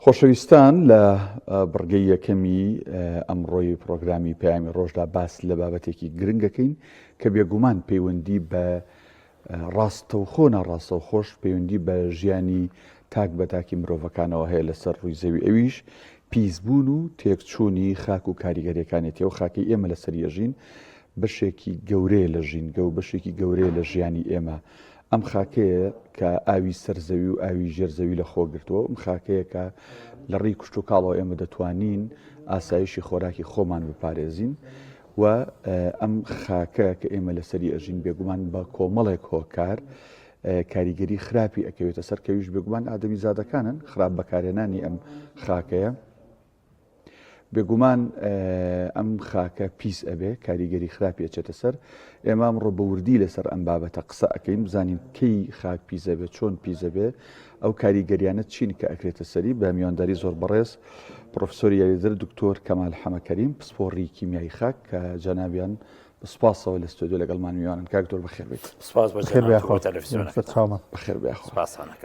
خۆشەویستان لە بڕگەی یەکەمی ئەمڕۆی پرۆگرامی پەیامی ڕۆژدا باس لە بابەتێکی گرنگ دەکەین کە بێگومان پەیوەندی بە ڕاستەوخۆ ناڕاستەو خۆش پەیوەندی بە ژیانی تاک بە تاکی مرۆڤەکانەوە هەیە لەسەر ڕووی زەوی ئەویش پیسبوون و تێکچوونی خاک و کاریگەریەکانێتی و خاکی ئێمە لەسەر یەژین بەشێکی گەورەیە لە ژینگە و بەشێکی گەورەیە لە ژیانی ئێمە ئەم خاکەیە کە ئاوی سەرزەوی و ئاوی ژێرزەوی لە خۆگرتووە ئەم خاکەیە کە لە ڕێی کوشت و کاڵەوە ئێمە دەتوانین ئاسایشی خۆراکی خۆمان بپارێزین و ئەم خاکە کە ئێمە لەسەری ئەژین بێگومان بە کۆمەڵێک هۆکار کاریگەری خراپی ئەکەوێتە سەر کەویش بێگومان ئادەمی زادەکانن خراپ بەکارێنانی ئەم خاکەیە بێگومان ئەم خاکە پیس ئەبێ کاریگەری خراپی ئەچێتە سەر ئێمام ڕۆ بەوردی لەسەر ئەم بابەتە قسە ئەەکەین بزانین کەی خاک پیزە بێت چۆن پیزە بێ ئەو کاریگەریانە چین کە ئەکرێتە سەری بە میوانداری زۆر بەڕێز پرۆفسۆری یاریدر دکتۆر کەمال حەمەکەریم پسپۆڕی کیمیایی خاک کە جەنابیان بەسپاسەوە لە ستۆدیۆ لەگەڵ مانویانن کاکتۆر بەخێر بێت سپاس بەخێر بێ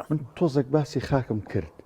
من تۆزێک باسی خاکم کرد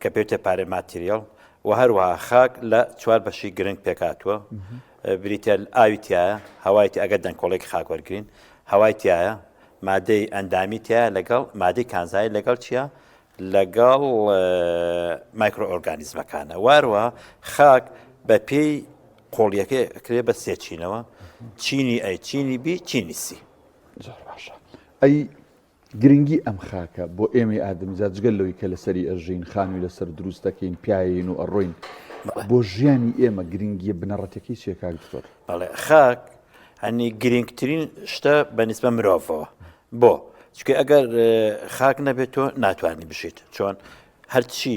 کە پێوتە پارێ ماتریاڵ و هەروەها خاک لە چوار بەشی گرنگ پێکاتوە بریتە ئاوی تایە هەوایتی ئەگەر دەنگکۆڵێک خاک وەرگین هەوای تایە مادەی ئەندامی تیا لەگەڵ مادەی کانزای لەگەڵ چییە لەگەڵ مایکرۆئۆرگانیزمەکانە واروە خاک بە پێی قۆڵیەکە کرێ بە سێچینەوە چینی ئەی چینی بی چینی سی ئەی گرنگی ئەم خاکە بۆ ئێمەی ئادەمیزاد جگە لەوەی کە لەسەری ئەژین، خانووی لەسەر دروست دەکەین، پیاین و ئەڕۆین، بۆ ژیانی ئێمە گرنگییە بنەڕەتیەکەی چییە کاک دکتۆر؟ بەڵێ خاک هەنی گرنگترین شتە بە نیسبە مرۆڤەوە بۆ چکە ئەگەر خاک نەبێت تۆ ناتوانانی بشیت چۆن هەرچی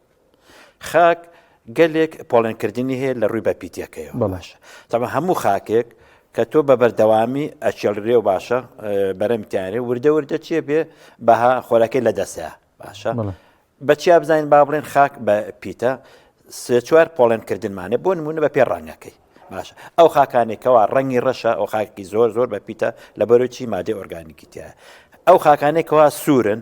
خاک گەلێک پۆڵێنکردنی هەیە لە ڕووی بەپیتەکەیەوە بەڵاشە تەمە هەموو خاکێک کە تۆ بە بەردەوامی ئەچێڵرێ و باشە بەرەمتیانێ وردە وردە چێ بێ بەها خۆراکەی لە دەسە باشە بەچیا بزانین با بڵێن خاک بە پیتە سێ چوار پۆڵێنکردنمانێ بۆ نمونە بە پێ ڕەنگەکەی باشە ئەو خاکانێکەوە ڕەنگی ڕەشە ئەو خاکی زۆر زۆر بە پیتە لە بەرەوچی مادەی ئۆرگانیکیتە ئەو خاکانێکەوە سوورن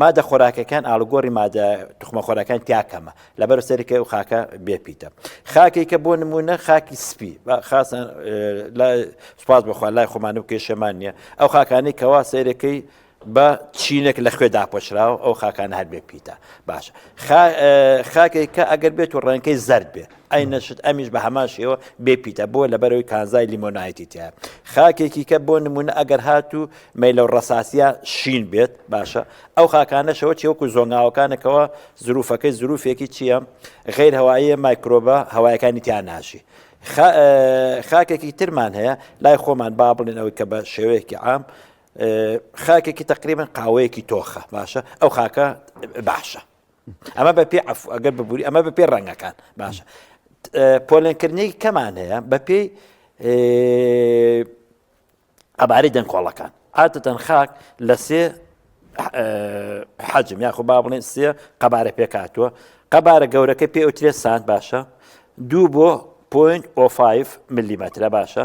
مادە خۆراکەکان ئاڵگۆری مادە تخمەخۆراکان تیا کەمە لەبەر سەرکە و خاکە بێپیتە خاکی کە بۆ نمونە خاکی سپی خاستان سوپاس بخوا لای خۆمان و کێشەمان نییە ئەو خاکانی کەوا سەیرەکەی بە چینێک لە خوێ داپۆشراوە ئەو خاکان هەر بێ پیتە باش خاکێک کە ئەگەر بێت و ڕێنکەی زرد بێت ئەی نەشت ئەمیش بە هەمان شێوە بێ پیتە بۆ لەبەرەوەی کانزای لیمۆنایتی تیا خاکێکی کە بۆ نمونە ئەگەر هات و مەیلە و ڕساسیە شین بێت باشە ئەو خاکانەشەوە چێوەکو زۆنگاوەکانەکەەوە زروفەکەی زروفێکی چییە غیر هەوایە مایکرۆبە هەوایەکانی تیا ناشی خاکێکی ترمان هەیە لای خۆمان با بڵێن ئەوەی کە بە شێوەیەکی عام خاکێکی تقریبن قاوەیەکی تۆخە باشە ئەو خاکە باشە ئەمە بە پێ ئەف ئەگەر ببووری ئەمە بە پێ ڕەنگەکان باشە پۆلێنکردنێکی کەمان هەیە بە پێی ئەبارەی دەنگۆڵەکان عادەتەن خاک لە سێ حەجم یاخۆ با بڵێن سێ قەبارە پێکاتوە قەبارە گەورەکە پێ ئۆترێ سان باشە دوو بۆ پوین ئۆفاایف ملیمەترە باشە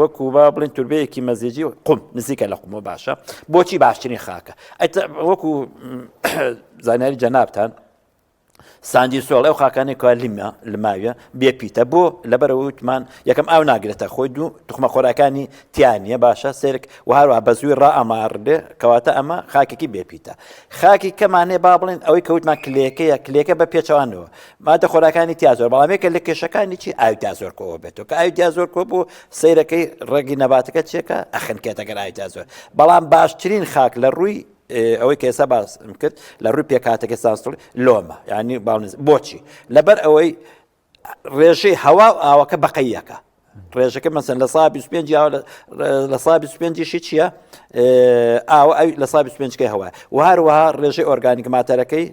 وەکو با بڵین توربەیەکی مەزیجی و قوم نزیکە لە قومە باشە بۆچی باشترین خاکە وەکو زانیاری جەنابان ساندی سۆڵ ئەو خاکانی کوا لیمە لماویە بێ پیتە بۆ لەبەر وتمان یەکەم ئاو ناگرێتە خۆی دوو تخمە خۆراکانی تیانە باشە سرک و هەروە بە زووی ڕائەمار بێ کەواتە ئەمە خاکێکی بێ پیتە خاکی کەمانێ با بڵێن ئەوەی کەوتمان کلێکەیە کلێکە بە پێچوانەوە مادە خۆراکانی تیا زۆر بەڵام یەکە لە کێشەکانی چی ئاوی تا زۆر کۆوە بێتەوە کە ئاوی تا زۆر کۆ بوو سیرەکەی ڕێگی نەباتەکە چێکە ئەخنکێتەگەر ئاوی تا زۆر بەڵام باشترین خاک لە ڕووی ئەوەی کە ئێستا باس کرد لە ڕووی پێکاتەکە سانسڵ لۆمە یعنی باڵنز بۆچی لەبەر ئەوەی ڕێژەی هەوا و ئاوەکە بەقەیەکە ڕێژەکە مەسن لە سا 25 لە سا 25شی چییە ئاوە ئەوی لە سا 25کەی هەوە و هەروەها ڕێژەی ئۆرگانیک ماتەرەکەی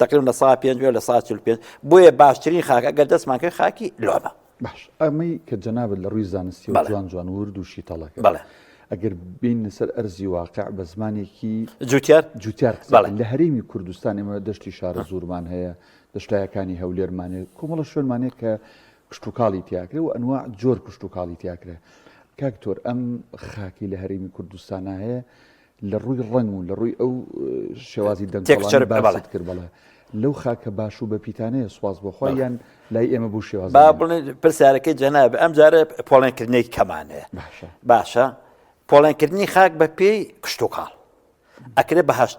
تقریم لە سا 5 لە سا 5 بۆیە باشترین خاک ئەگەر دەستمان کرد خاکی لۆمە باش ئەمەی کە جەنابەت لە ڕووی زانستی و جوان جوان ورد و شیتەڵەکە بڵێ ئەگەر بین سەر ئەرزی واقع بە زمانێکی جوتیار جوتیار لە هەرێمی کوردستان ئمە دەشتی شارە زورمان هەیە دەشتایەکانی هەولێرمانێت کۆمەڵە شوێنمانێت کە کشتوکاڵی تیاکرێ و ئەنواع جۆر کشتوکاڵی تیاکرێ کاک تۆر ئەم خاکی لە هەرێمی کوردستانە هەیە لە ڕووی ڕەنگ و لە ڕووی ئەو شێوازی دەنگچەر باڵت کرد بڵێ لەو خاکە باش و بەپیتانەیە سواز بۆخوایان لای ئێمە بوو شێواز با بڵێ پرسیارەکەی جەناب ئەم جارە پۆڵێنکردنێک کەمانەیە باشە باشە پۆڵێنکردنی خاک بە پێی کشتتوکاڵ ئەکرێ بەهشت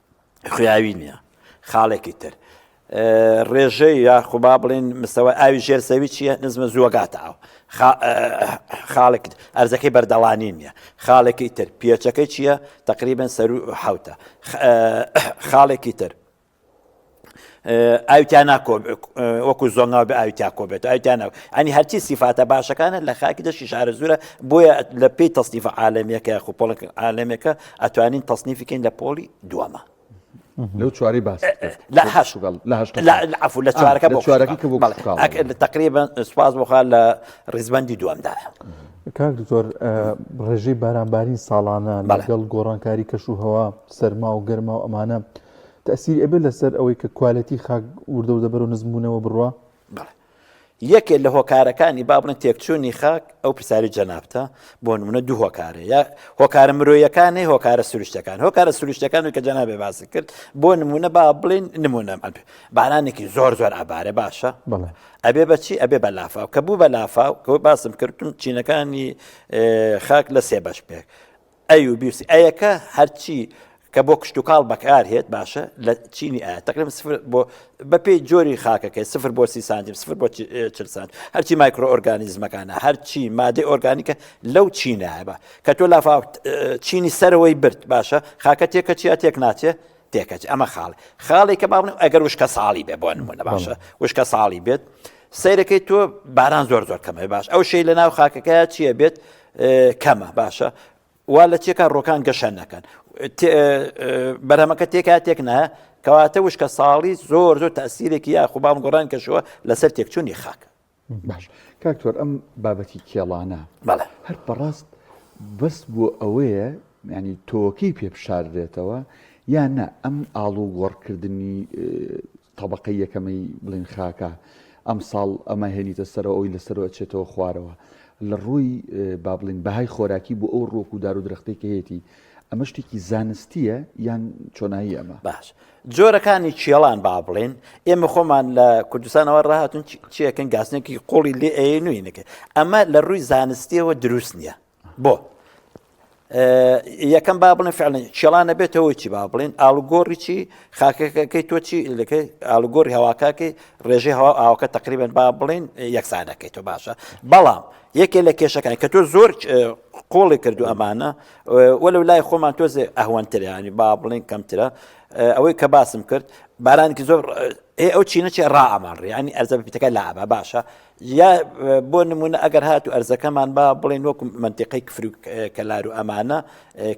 خویاوی نییە خاڵێکی تر ڕێژەی یاخوبا بڵین مستەوە ئاوی ژێر زەوی چیە نزمە زووەگاتە ئاو خاڵێک ئەرزەکەی بەردەڵانی نییە خاڵێکی تر پێچەکەی چییە تقریبن سەر حوتە خاڵێکی تر ئاوتیا ناکۆ وەکو زۆنگا بە ئاوتیا کۆ بێت ئایتیانە ئەنی هەرچی سیفاتە باشەکانە لە خاکی دەشی شارە زورە بۆیە لە پێی تەصنیف عاالەمیەکە خو پۆڵک عاالەمەکە ئەتوانین تەصنیفیکەین لە پۆلی دووەمە لەو چواری باس لەعفو لە چوارەکە بۆ چوارەکە کە بۆ تقریبا سوپاس بخوا لە ڕیزبندی دووەمدا کاک دکتۆر ڕێژەی بارانبارین ساڵانە لەگەڵ گۆڕانکاری کەش و هەوا سەرما و گەرما و ئەمانە تەئسیری ئەبێت لەسەر ئەوەی کە کوالێتی خاک وردە وردە بەرەو نزم بوونەوە بڕوا؟ بەڵێ. یەکێ لە هۆکارەکانی با بڵێن تێکچوونی خاک ئەو پرسیاری جەنابتە بۆ نمونە دوو هۆکارە یا هۆکارە مرۆیەکانی هۆکارە سروشتەکان هۆکارە سروشتەکانی کە جەنابێ باسی کرد بۆ نمونە با بڵین نمونە ئەبێ بارانێکی زۆر زۆر ئابارە باشە بڵێ ئەبێ بەچی ئەبێ بە لافاو کە بوو بە لافاو کە باسم کردتون چینەکانی خاک لە سێ بەش پێک ئەیوبی و ئەیەکە هەرچی کە بۆ کشتتوکاڵ بەکار هێت باشە لە چینی ئایا تقرم سفر بۆ بەپی جۆری خاکەکە سفر بۆ سی سانتیم سفر بۆ چل سانت هەرچی مایکرۆ ئۆرگانیزمەکانە هەرچی مادەی ئۆرگانیکە لەو چینایە بە کە تۆ لافااو چینی سەرەوەی برد باشە خاکە تێکە چیا تێک ناچێ تێکەچ ئەمە خاڵ خاڵی کە باڵم ئەگەر وشکە ساڵی بێ بۆ نمونە باشە وشکە ساڵی بێت سیرەکەی تۆ باران زۆر زۆر کەمە باش ئەو شەی لە ناو خاکەکە چییە بێت کەمە باشە وا لە چێکا ڕۆکان گەشە نەکەن بەرەمەکە تێکا تێک نە کەواتە وشکە ساڵی زۆر زۆر تاسیرێکی یاخوبام گۆڕان کەشەوە لەسەر تێکچوونی خاک باش کاکتۆر ئەم بابەتی کێڵانە هەر بەڕاست بەس بۆ ئەوەیە ینی تۆکەی پێ بشاردرێتەوە یان نە ئەم ئاڵ و گۆڕکردنی طبقە یەکەمەی بڵین خاکە ئەم ساڵ ئەمە هێنیتە سەرەوە ئەوی لەسەرەوە چێتەوە خوارەوە لە ڕووی بابلین بەهای خۆراکی بۆ ئەو ڕۆک و دار و درختێکەیەتی ئەمە شتێکی زانستیە یان چۆنایی ئەمە باش جۆرەکانی کێڵان با بڵێن ئێمە خۆمان لە کوردستانەوە ڕاهاتون چیەکەن گاسنێکی قوڵی لێ ئەی نوێی نەکە ئەمە لە ڕووی زانستیەوە دروست نییە بۆ یەکەم با بڵێن فعلن کێڵانە بێتەوە چی با بڵێن ئالوگۆڕی چی خاکەکەی تۆ چی لەکەی ئالوگۆری هەواکەکەی ڕێژەی هەوا ئاوکە تقریبن با بڵێن یەکسانەکەی تۆ باشە بەڵام یەکێ لە کێشەکان کە تۆ زۆر قۆڵی کردو ئەمانە وەلەو لای خۆمان تۆزێ ئەهوەنترە ینی با بڵێن کەمترە ئەوەی کە باسم کرد بارانێکی زۆر ئێ ئەو چینەچێ ڕائەمان ڕیانی ئەرزە بپیتەکە لابا باشە یا بۆ نمونە ئەگەر هات و ئەرزەکەمان با بڵێن وەکو منتیقی کفرو کەلار و ئەمانە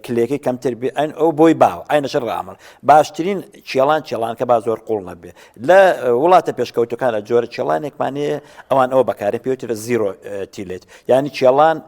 کلێکی کەمتر بێ ئەن ئەو بۆی باو ئاینەشە ڕامل باشترین چێڵان چێڵان کە با زۆر قوڵ نەبێ لە وڵاتە پێشکەوتەکانە جۆرە چێڵانێکمانەیە ئەوان ئەوە بەکارە پێوترە زیرۆ تیلێت ینی چێڵان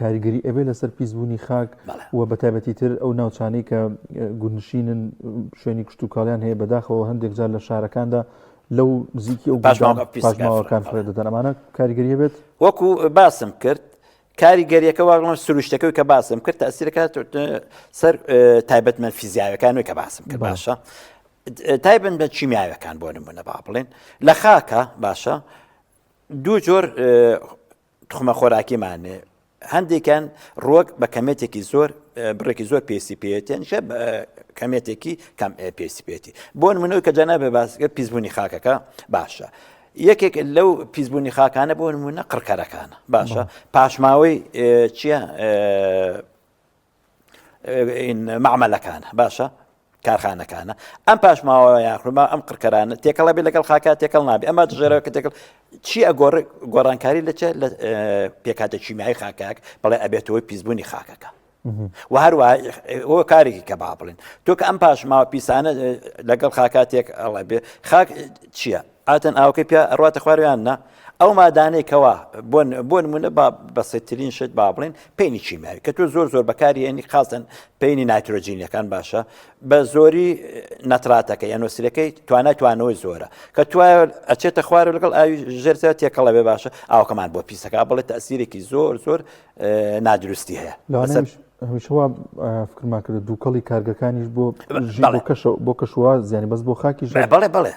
کاریگەری ئەبێ لەسەر پیسبوونی خاک و بە تابەتی تر ئەو ناوچانەی کە گونشینن شوێنی کشت و کاڵیان هەیە بەداخەوە هەندێک جار لە شارەکاندا لەو نزیکی ئەو پاشماوەکان فرە دەدەن ئەمانە کاریگەریە بێت وەکو باسم کرد کاریگەریەکە واگڵم سروشتەکەی کە باسم کرد تاسیرەکات سەر تایبەتمە فیزیاوەکانەوەی کە باسم کرد باشە تایبن بە چیمیاوەکان بۆ نمونە با بڵێن لە خاکە باشە دوو جۆر توخمە خۆراکیمان هەندێکیان ڕۆک بە کەمێتێکی زۆر بڕێکی زۆر پێسی پێێتێن شە کەمێتێکی کەم پێسی پێێتی بۆ منەوەی کە جەنابێ باسگە پیسبوونی خاکەکە باشە یەکێک لەو پیسبوونی خاکانە بۆ نمونە قڕکەرەکانە باشە پاشماوەی چییە؟ مەعمەلەکانە باشە کارخانەکانە ئەم پاشماوە یاخما ئەم قڕکەرانە تێکەڵە بێ لەگەڵ خاکە تێکەڵ نابێ ئەمە دژێرەوە کە تێکەڵ چی ئەگۆڕ گۆڕانکاری لە لە پێکاتە چیمیایی خاکاک بەڵێ ئەبێتەوەی پیسبوونی خاکەکە و هەروە ئەوە کارێکی کە با بڵێن تۆ کە ئەم پاشماوە پیسانە لەگەڵ خاکاتێک ئەڵێ بێ خاک چییە ئاتن ئاوەکەی پیا ڕاتە خوار یان نا ئەو مادانەی کەوا بۆن بۆن منە با بەسەترین شت با بڵێن پێینی چیماوی کە تۆ زۆر زۆر بەکاری هێنی خاستن پێینی ناترۆجینیەکان باشە بە زۆری نەتراتەکە یان نووسەکەی توانای توانەوەی زۆرە کە تو ئەچێتە خوار لەگەڵ ئاوی ژێرزە تێکەڵە بێ باشە ئاوکەمان بۆ پیسەکە بڵێت تەسیرێکی زۆر زۆر نادروستی هەیە هەمیشەوا فکرما کرد دووکەڵی کارگەکانیش بۆ کەش بۆ کەشوە زیانی بەس بۆ خاکی بڵێ بڵێ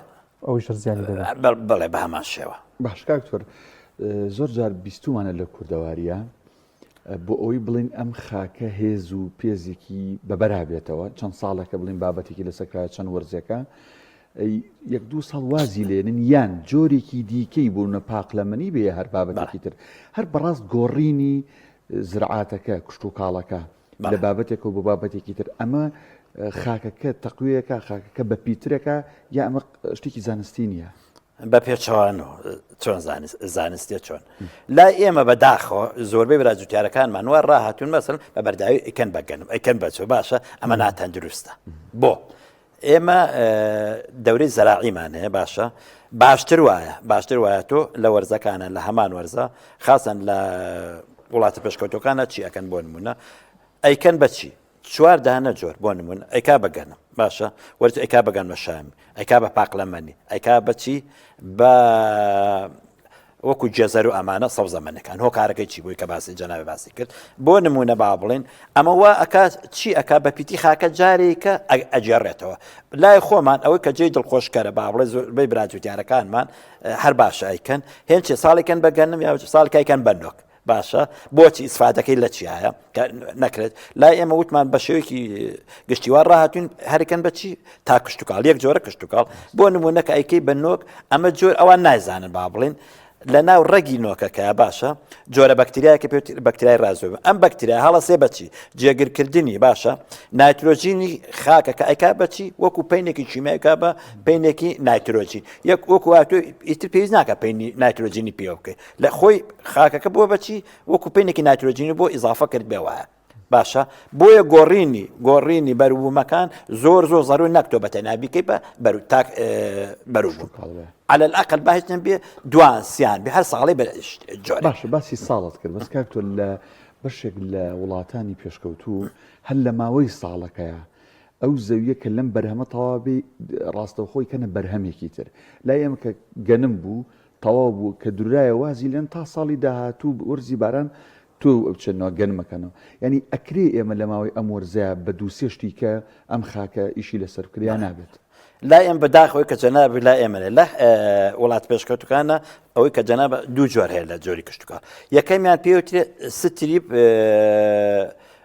ئەوش هەر زیانی دەبێت ئە، بە- بەڵێ بە هەمان شێوە باش کاک تۆر اه، زۆر جار بیستومانە لە کوردەواریە اه، بۆ ئەوەی بڵین ئەم خاکە هێز و پێزێکی بەبەرابێتەوە چەند ساڵێکە بڵین بابەتێکی لەسەر کرایە چەند وەرزێکە اه، یەک دوو ساڵ وازی لێنن یان جۆرێکی دیکەی بوونە پاقلەمەنی بێ هەر بابەتێکی تر هەر بەڕاست گۆڕینی اه، زرعاتەکە کشتوکاڵەکە لە بابەتێک و بۆ بابەتێکی تر ئەمە خاکەکە تەقویەکە خاکەکە بە پیترەکە یا ئەمە شتێکی زانستی نییە بە پێچەوان و چۆن زانستە چۆن لا ئێمە بە داخۆ زۆربەی برا جوتیارەکانمان وە ڕاهاتون مەسن بە بەرداوی ئەکەن بەگەنم ئەکەن بەچۆ باشە ئەمە ناتەندروستە بۆ ئێمە دەورەی زەراعیمان هەیە باشە باشتر وایە باشتر وایە تۆ لە وەرزەکانە لە هەمان وەرزە خاصن لە وڵاتە پێشکەوتەکانە چی ئەەکەن بۆ نمونە ئەیکەن بەچی چوار دانە جۆر بۆ نمونون ئەیکا بەگەنم باشە وەرز ئەیکا بەگەن مەشامی ئەیکا بە پاقلەمەنی ئەیکا بەچی بە وەکو جزر و ئەمانە سەوزە مەنەکان هۆکارەکەی چی بووی کە باسی جەنابی باسی کرد بۆ نمونە با بڵێن ئەمە وا ئەکا چی ئەک بە پیتی خاکە جارێکە ئەجێڕێتەوە لای خۆمان ئەوەی کە جێی دڵخۆشکەرە با بڵێ زۆربەی براجوتیارەکانمان هەر باش ئەیکەن هێنچێ ساڵێکن بەگەنم یا ساڵکایکەن بەنۆک باشە بۆچی ئیسفادەکەی لە چیایە نەکرێت لای ئێمە وتمان بە شێوەیەکی گشتیوار ڕاهاتون هەرکەن بەچی تا کشتتوکال یەک جۆرە کشتتوکال بۆ نمونونەکە ئەیکەی بە نۆک ئەمە جۆر ئەوان نایزانن با بڵین لە ناو ڕەگی نۆکەکە باشە جۆرە بەکتریایەکە پێ بەکتریای ڕازۆ ئەم بەکتریا هەڵە سێ بەچی جێگرکردنی باشە نایترۆژینی خاکەکە ئەیکا بەچی وەکو پینێکی چیمایکا بە پینێکی نایترۆژین یەک وەکو ئیتر پێویست ناکە پینی نایترۆژینی پێ بکەیت لە خۆی خاکەکە بووە بەچی وەکو پێنێکی ناترۆجینی بۆ ئیزافە کرد بێ وایە باشە بۆیە گۆڕینی گۆڕینی بەروومەکان زۆر زۆر زەروی نەکتۆ بە تەنابیکەی بە بەرو تاک بەروژ على الأقل باهتن بێ دوان سیان بە هەر ساڵی جۆر باشە باسی ساڵت کرد بەس کاک تۆ لە بەشێک لە وڵاتانی پێشکەوتوو هەر لە ماوەی ساڵەکەیە ئەو زەویە کە لەم بەرهەمە تەواوی ڕاستەوخۆی کەنە بەرهەمێکی تر لای ئەمە کە گەنم بوو تەواو بوو کە دررایە وازی لێن تا ساڵی داهاتوو وەرزی باران توێ و ئەوچێنەوە گەن مەکەنەوە یانی ئەکرێ ئێمە لە ماوەی ئەم وەرزەیا بە دوو سێ شتی کە ئەم خاکە ئیشی لە سەر بکرێ یا نابێت. لای ئێمە بە داخەوەی کە جەناب لای ئێمە لێ لە وڵات پێشکەوتوکانە ئەوەی کە جەناب دوو جۆر هەیە لە جۆری کشتتوکە یەکەمیان پێوترێ ستریپ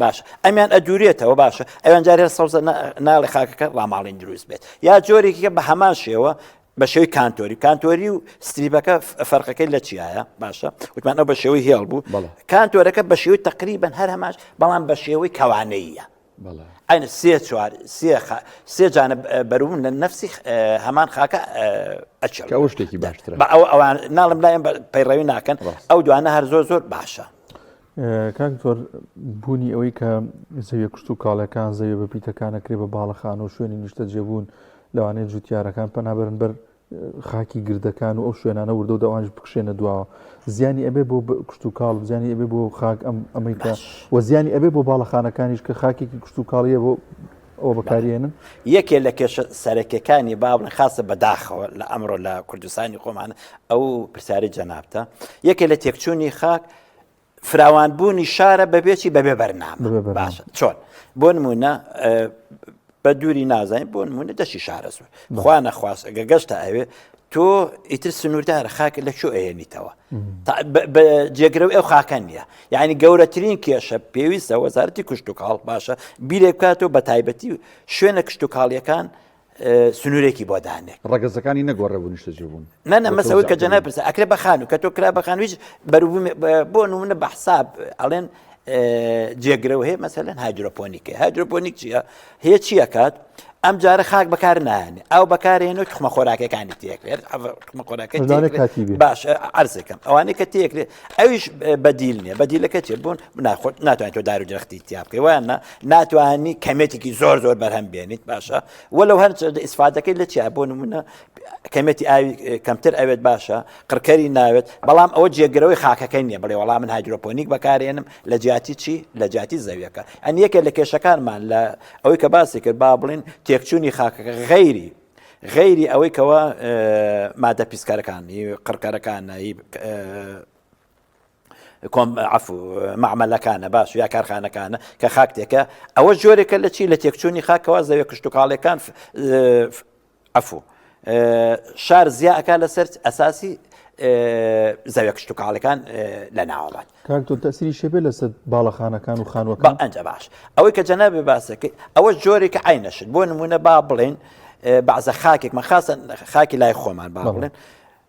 باشە ئەمیان ئەدورێتەوە باشە ئەوان جار هەر سەوزە ناڵێ خاکەکە ڕاماڵین دروست بێت یا جۆرێکیکە بە هەمان شێوە بە شێوی کانتۆری کانتۆری و ستریبەکە فەرقەکەی لە چیایە باشە وتمان ئەو بە شێوەی هێڵ بوو کانتۆرەکە بە شێوی تقریبن هەر هەماش بەڵام بە شێوەی کەوانەیە ئەین سێ چوار سێ جانە بەروون لە نفسی هەمان خاکە ئەچێت ئەو شتێکی باشتر بە ئەو ئەوان ناڵم لایم پەیڕەوی ناکەن ئەو دوانە هەر زۆر زۆر باشە کاک دکتۆر بوونی ئەوەی کە زەویە کشت و کاڵەکان زەویە بە پیتەکانەکرێ بە باڵەخان و شوێنی نیشتە جێبوون لەوانەیە جوتیارەکان پەنابەرن بەر خاکی گردەکان و ئەو شوێنانە وردە و داوانش بکشێنە دواوە زیانی ئەبێ بۆ کشت و کاڵ زیانی ئەبێ بۆ خاک ئەم ئەمریکا و زیانی ئەبێ بۆ باڵەخانەکانیش کە خاکێکی کشت و کاڵیە بۆ ئەو بەکارێنن یەکێ لە کێشە سەرەکەکانی باڵن خاصە بەداخەوە لە ئەمڕۆ لە کوردستانی خۆمان ئەو پرسیاری جەنابتە یەکێ لە تێکچوونی خاک فراوانبوونی شارە بەبێچی بەبێ بەرنامە باشە چۆن بۆ نمونە بە دووری نازانین بۆ نمونە دەشی شارەزور خوا نەخواست ئەگە گەشتە ئەوێ تۆ ئیتر سنووردارە خاکە لە چۆ ئەێنیتەوە جێگرە ئەو خاکە نیە یعنی گەورەترین کێشە پێویستە وەزارتی کوشت و کاڵ باشە بیرێک بکاتەوە بە تایبەتی شوێنە کشت و کاڵیەکان سنوورێکی بۆ دانێ ڕگەزەکانی نەگۆڕێ بوو نیشتەجێ بوون نە نە مەسەوە کە جەنای پرسە ئەکرێ بەخانو کە تۆ کرا بەخانویش بەرو بۆ نمونە بە حساب ئەڵێن جێگرەوە هەیە مەسەلەن هایدروپۆنیکە هایدروپۆنیک چییە هەیە چییە کات ئەم جارە خاک بەکار نانێ ئەو بەکارێنەوە تخمە خۆراکەکانی تێکرێت تخمە خۆراکە باش ئەرزەکەم ئەوانەی کە تێکرێت ئەویش بەدیل نیە بەدیلەکە چێ بوون ناخۆت ناتوانانی تۆ دار و درختی تیا بکەی وایان نا ناتوانانی کەمێتێکی زۆر زۆر بەرهەم بێنیت باشە وە لەو هەر ئیسفادەکەی لە چیا بۆ نمونە کەمێتی ئاوی کەمتر ئەوێت باشە قڕکەری ناوێت بەڵام ئەوە جێگرەوەی خاکەکەی نیە بڵێ وەڵام من هایدرۆپۆنیک بەکارێنم لە جیاتی چی لە جیاتی زەویەکە ئەن یەکێک لە کێشەکانمان لە ئەوەی کە باسی کرد با بڵین تێکچوونی خاکەکە غەیری غەیری ئەوەی کەەوە مادە پیسکارەکانی قڕکارەکانایی عەفو، مەعمەلەکانە باش یا کارخانەکانە کە خاک تێکە ئەوە جۆرێکە لە چی لە تێکچوونی خاکەوە زەوێ کشتتوکاڵەکان عەفو شار زیاکە لەسەر ئەساسی زەوێ کشتتوکاڵەکان لە ناوەڵات کاکتۆ تەسری شێبێ لەسەر باڵەخانەکان و خانوەکان ئەنج باش ئەوەی کە جەنا بێ باسەکەی ئەوە جۆرێکە ئاینەشت بۆ نمونە با بڵێن بەعزە خاکێکمە خاستە خاکی لای خۆمان با بڵێن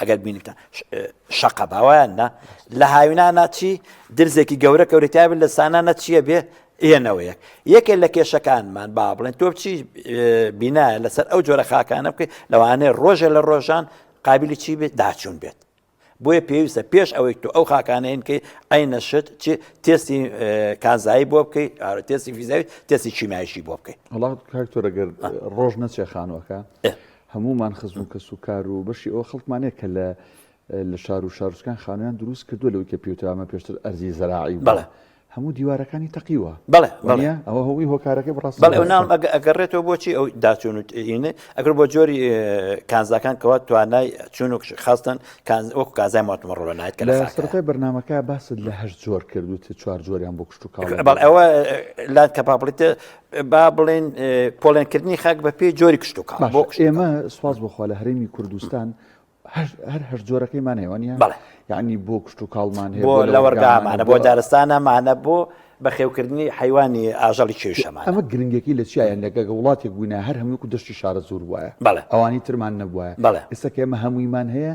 ئەگەر بینتە شەقە باوایان نا لە هاوینانە چی درزێکی گەورە کەورەتیاب لە سانانە چییە بێ ئێنەوەیە یەکێ لە کێشەکانمان با بڵێن تۆ چی بینایە لەسەر ئەو جۆرە خاکانە بکەیت لەوانەیە ڕۆژێ لە ڕۆژان قابلی چی بێت داچوون بێت بۆیە پێویستە پێش ئەوەی تۆ ئەو خاکانەیەن کەی ئەی نەشت چی تێستی کانزایی بۆ بکەیت تێستی فیزاوی تێستی چیمایشی بۆ بکەیت وڵات کاکتۆرەگەر ڕۆژ نەچێ خانوەکە هەموومان خزم و کەس و کار و بەشی ئەوە خەڵکمان هەیە کە لە لە شار و شارچکان خانویان دروست کردووە لەوەی کە پیوترامە پێشتر ئەرزی زەراعی بوو. بەڵێ. هەموو دیوارەکانی تەقیوە. بەڵێ، بەڵێ. وانییە؟ ئەوە هەمووی هۆکارەکەی بەڕاستی بەڵێ، بەوەشە. ناوم ئەگە ئەگەڕێتەوە بۆچی ئەو داچوون و ئینە ئەگەر بۆ جۆری کانزاکان کەوا توانای چوون و کش خاستن کانز وەکو کانزای ماتمڕۆ بە نایەت کە لە لە فاکەیە. سەرەتای بەرنامەکە باست لە هەشت جۆر کرد وتت چوار جۆریان بۆ کشتوکاڵ بەڵێ ئەوە لات کەپابڵیتێ با بڵێن پۆڵێنکردنی خاک بە پێی جۆری کشتتوکە بۆ ئێمە سوپاس بخوا لە هەرێمی کوردستان هەر هەر جۆرەکەیمان هێوانە بەڵێ یعنی بۆ کشت و کاڵمان هەیە بۆ لە وەرگامانە بۆ دارستانەمانە بۆ بەخێوکردنی حیوانی ئاژەڵی کێشەمان ئەمە گرنگەکەی لە چیایە لەگەگە وڵاتێک بووینە هەر هەمووکو دەشتی شارە زۆر وایە بەڵێ ئەوانی ترمان نەبووە بەڵێ ئێستا کێمە هەموویمان هەیە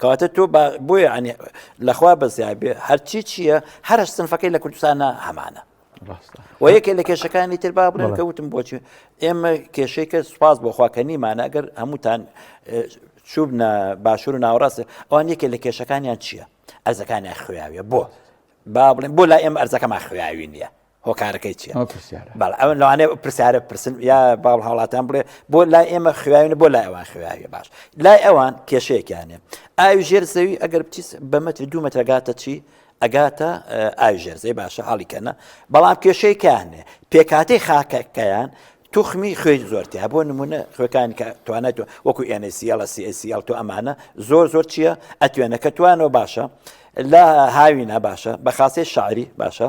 کەواتە تۆ بۆیە ئەنێ لەخوا بەزیا بێ هەرچی چییە هەرە سنفەکەی لە کوردستانە هەمانە و یەکێ لە کێشەکانی تر با بڵێن کە وتم بۆچی ئێمە کێشەی کە سوپاس بۆخوا کە نیمانە ئەگەر هەمووتان چوبنە باشور و ناوەڕاستە ئەوان یەکێ لە کێشەکانیان چییە ئەرزەکانیان خوێاویە بۆ با بڵێن بۆ لا ئێمە ئەرزەکەمان خوێاوی نییە هۆکارەکەی چیە بەڵ ئەو لەوانێ پرسیارە پرسن یا باڵ هاوڵاتان بڵێ بۆ لای ئێمە خوێنە بۆ لای ئەوان خوێنە باش لای ئەوان کێشەیەکیانێ ئاوی ژێر زەوی ئەگەر بچی بە مەتری دوو مەترەگاتە چی ئەگاتە ئاوی ژێر زەوی باشە حاڵیکەنە بەڵام کێشەیەکیانێ پێکاتی خاکەکەیان توخمی خوێن زۆرتیا بۆ نمونە خوێکانی کە توانێت وەکو ئێنسیڵە سیسیڵ تۆ ئەمانە زۆر زۆر چییە ئەتوێنەکە توانەوە باشە لە هاوینە باشە بە خاسی شعری باشە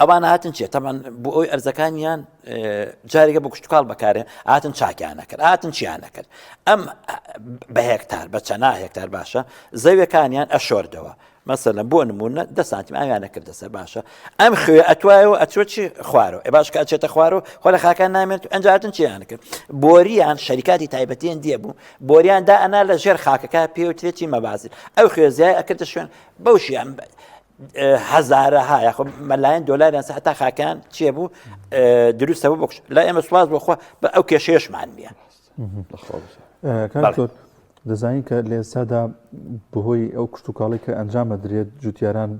ئەوان هاتن چێت تەمان بۆ ئەوی ئەرزەکانیان جارێکە بە کوشتتوکڵ بەکارێ ئاتن چاکیانە کرد ئاتن چیانە کرد ئەم بە هێکتار بە چەنا هێکتار باشە زەویەکانیان ئەشۆردەوە مەسەلە بۆ نمونە دە سانتیم ئاویانە کردە سەر باشە ئەم خوێ ئەتوایەوە ئەچۆ چی خوارەوە ئێ باش کە ئەچێتە خوارەوە خۆ لە خاکان نامێت ئەنجاتن چیان کرد بۆریان شەریکاتی تایبەتیان دیە بوو بۆریان دا ئەنا لە ژێر خاکەکە پێوترێتی مەبازی ئەو خوێزیای ئەکردە شوێن بەوشیان بێت. هەزارەها یاخۆ مەلایەن دۆلاریان سە هەتا خاکان چێ بوو دروستە بۆ بکش لا ئێمە سواز بۆخوا بە ئەو کێشێشمان نیە دەزانین کە لە ئێستادا بەهۆی ئەو کشتتوکاڵی کە ئەنجامە درێت جوتیاران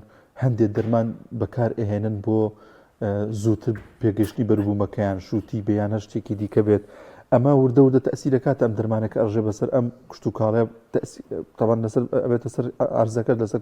هەندێک دەرمان بەکار ئەهێنن بۆ زووتر پێگەشتی بەربوومەکەیان شووتی بیانە شتێکی دیکە بێت ئەمە وردە وردە تەسی دەکات ئەم دەرمانەکە ئەڕژێ بەسەر ئەم کشتتوکاڵە تەوان لەسەر ئەبێتە سەر ئارزەکە لەسەر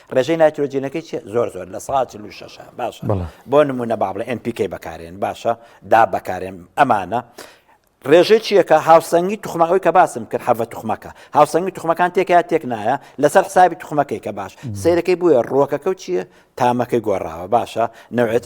ڕێژەی نایترۆجینەکەی چیە زۆر زۆر لە سا چل و شەشە باشە بەڵێ بۆ نمونە با بڵێ NPK بەکارێن باشە دا بەکارێن ئەمانە ڕێژەی چیەکە هاوسەنگی توخمەکەی کە باسم کرد حەڤە توخمەکە هاوسەنگی توخمەکان تێکیا تێک نایە لەسەر حسابی توخمەکەی کە باش سیرەکەی بووە ڕۆکەکە و چییە تامەکەی گۆڕاوە باشە نەوێت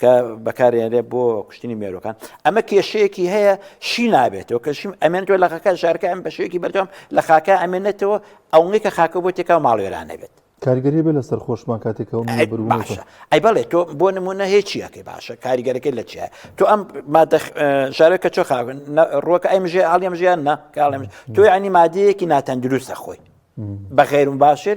کە بەکارێنرێت بۆ کوشتنی مێروەکان ئەمە کێشەیەکی هەیە شی نابێتەوە کە شیم ئەمێن تۆ لە خەکە شارکە ئەم بەشێکی بەردەم لە خاکە ئەمێنێتەوە ئەوەی کە خاکە بۆ تێکا ماڵێران نەبێت کارگەری بێ لەسەر خۆشمان کاتێکەوە ئەی بەڵێ تۆ بۆ نمونە هێچیەکەی باشە کاریگەرەکەی لە چیە تۆ ئەم شارەکە چۆ خاون ڕۆکە ئەم ژێ ئاڵیم ژیان نە کاڵێم تۆ ینی مادەیەکی ناتەندروستە خۆی بە غێرم باشر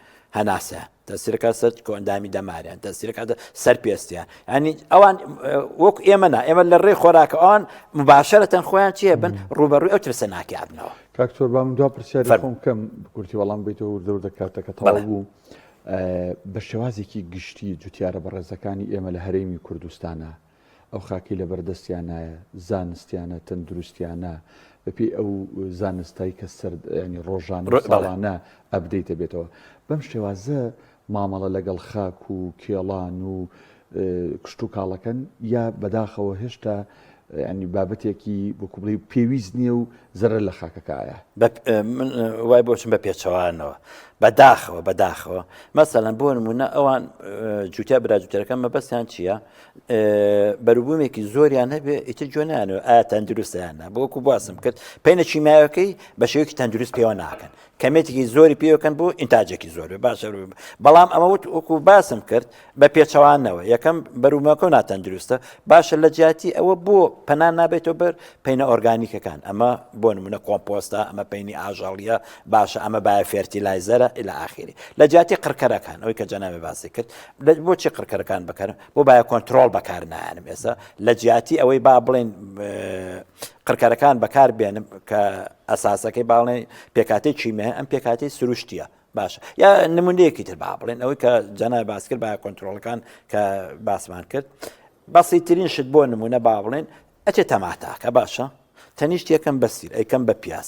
هەناسە تەسیرەکە سەر کۆندامی دەمارە تەسیرەکە سەر پێستە ینی ئەوان وەک ئێمە نا ئێمە لە ڕێ خۆراکە ئەوان مباشرەتەن خۆیان چیە بن ڕوبەڕوی ئەو ترسە ناکیابنەوە کاکتۆر بام دو پرسیارم کەم بکورتی وەڵام بیتەوە دەور دەکاتەکە تەڵ بوو بە شێوازێکی گشتی جوتیارە بەڕێزەکانی ئێمە لە هەرێمی کوردستانە ئەو خاکەی لەبەر دەستیانایە زانستیانە تەندروستیانە بەپی ئەو زانستایی کە سرد ینی ڕۆژانە ڕێباڵانە ئەبدەیتە بێتەوە بەم شێوازە مامەڵە لەگەڵ خاک و کێڵان و کشت و کاڵەکەن یا بەداخەوە هێشتا ینی بابەتێکی بۆ کوبڵی پێویست نییە و زەرە لە خاکەکایە من وای بۆچم بە پێچەوانەوە بەداخەوە بەداخەوە مەسەلەن بۆ نمونە ئەوان جوتیا براجوتەرەکە مەبەستیان چییە؟ بەروبوومێکی زۆریان هەبێ ئیتر جۆ نانەوە ئایا تەندروستیانە بۆکو باسم کرد پێینە چیمایەکەی بە شێوکی تەندروست پێوە ناکەن کەمێتێکی زۆری پێوەکەن بۆ ئینتاجێکی زۆر باشە بەڵام ئەمە وت وەکو باسم کرد بە پێچەوانەوە یەکەم بەرومەکە و ناتەندروستە باشە لە جیاتی ئەوە بۆ پەنان نابێتەوە بەر پینە ئۆرگانیکەکان ئەمە بۆ نمونە کۆمپۆستا ئەمە پینی ئاژەڵیە باشە ئەمە باە فێرتی لایزەرە لە ئاخری لە جیاتی قڕکەرەکان ئەوی کە جەناوێ باسی کرد بۆچی قڕکەرەکان بەکارم بۆ باە کۆنتترۆل بەکار نانم ئێستا لە جیاتی ئەوەی با بڵێن قڕکەرەکان بەکار بێنم کە ئەساسەکەی باڵێ پێکاتی چیمە ئەم پێکاتی سروشتیە باشە یا نمونەیەکی تر با بڵێن ئەوەی کە جەنا باس کرد با کۆنتترۆلەکان کە باسمان کرد بەسی ترین شت بۆ نمونە با بڵێن ئەچێت تەماتاکە باشە تەنیشت یەکەم بەسیر ئەیکەم بە پیاز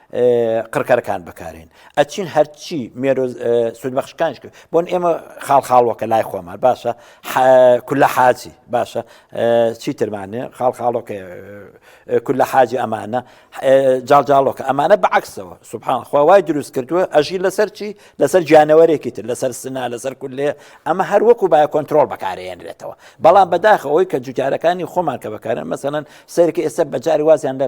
قڕکەرەکان بەکارێن ئەچین هەرچی مێرۆ سودبەخشکانش کرد بۆن ئێمە خاڵ خاڵوەکە لای خۆمان باشە کولە حاجی باشە چیترمانێ خاڵ خاڵۆکە کولە حاجی ئەمانە جاڵجاڵۆکە ئەمانە بەعکسەوە سوبحان خوای دروست کردووە ئەژی لەسەر چی لەسەر گیانەوەرێکی تر لەسەر سنا لەسەر کولێ ئەمە هەر وەکو باە کۆنتترۆل بەکارێنرێتەوە بەڵام بەداخەوەی کە جوتارەکانی خۆمان کە بەکارن مەسەن سەرکە ئێستا بەجاری وازیان لە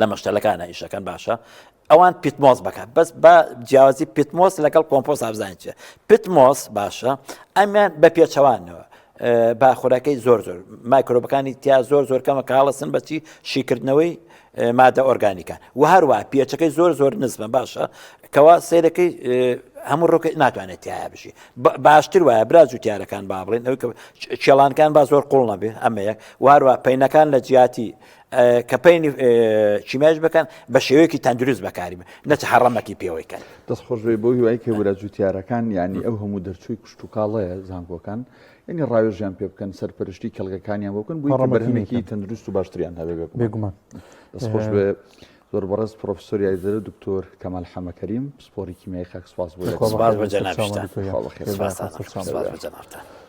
لە مەشتەلەکان ئیشەکەن باشە ئەوان پیتمۆس بکات بەس بە جیاوازی پیتمۆس لەگەڵ کۆمپۆس ئابزانین چێ پیتمۆس باشە ئەمیان بە پێچەوانەوە باخورەکەی زۆر زۆر مایکرۆبەکانی تیا زۆر زۆر کەمە کاڵەسن بەچی شیکردنەوەی مادە ئۆرگانیکان و هەروە پێچەکەی زۆر زۆر نزمە باشە کەوا سیرەکەی هەموو ڕۆکە ناتوانێت تایە بژی باشتر وایە برا جوتیارەکان با بڵێن ئەو کێڵانکان با زۆر قوڵ نەبێ ئەمەیەک واروا پینەکان لە جیاتی کەپەینی چیماش بکەن بە شێوەیەکی تەندروست بەکاری بە نەچ حڕەمەتی پێوەی کەن دەست خۆشێ بۆ هیوای کە ورە جوتیارەکان ینی ئەو هەموو دەرچووی کوشت و کاڵەیە زانکۆکان ینی ڕاوێژیان پێ بکەن سەرپەرشتی کەلگەکانیان بۆکەن بۆ ڕەمەکیمێکی تەندروست و باشتریان هەبێ بێگومان دەست خۆش بێ زۆر بەڕێز پرۆفسۆر یایزەرە دکتۆر کەمال حەمەکەریم پسپۆری کیمیای خاک سپاس بۆ سپاس بە جەنابتان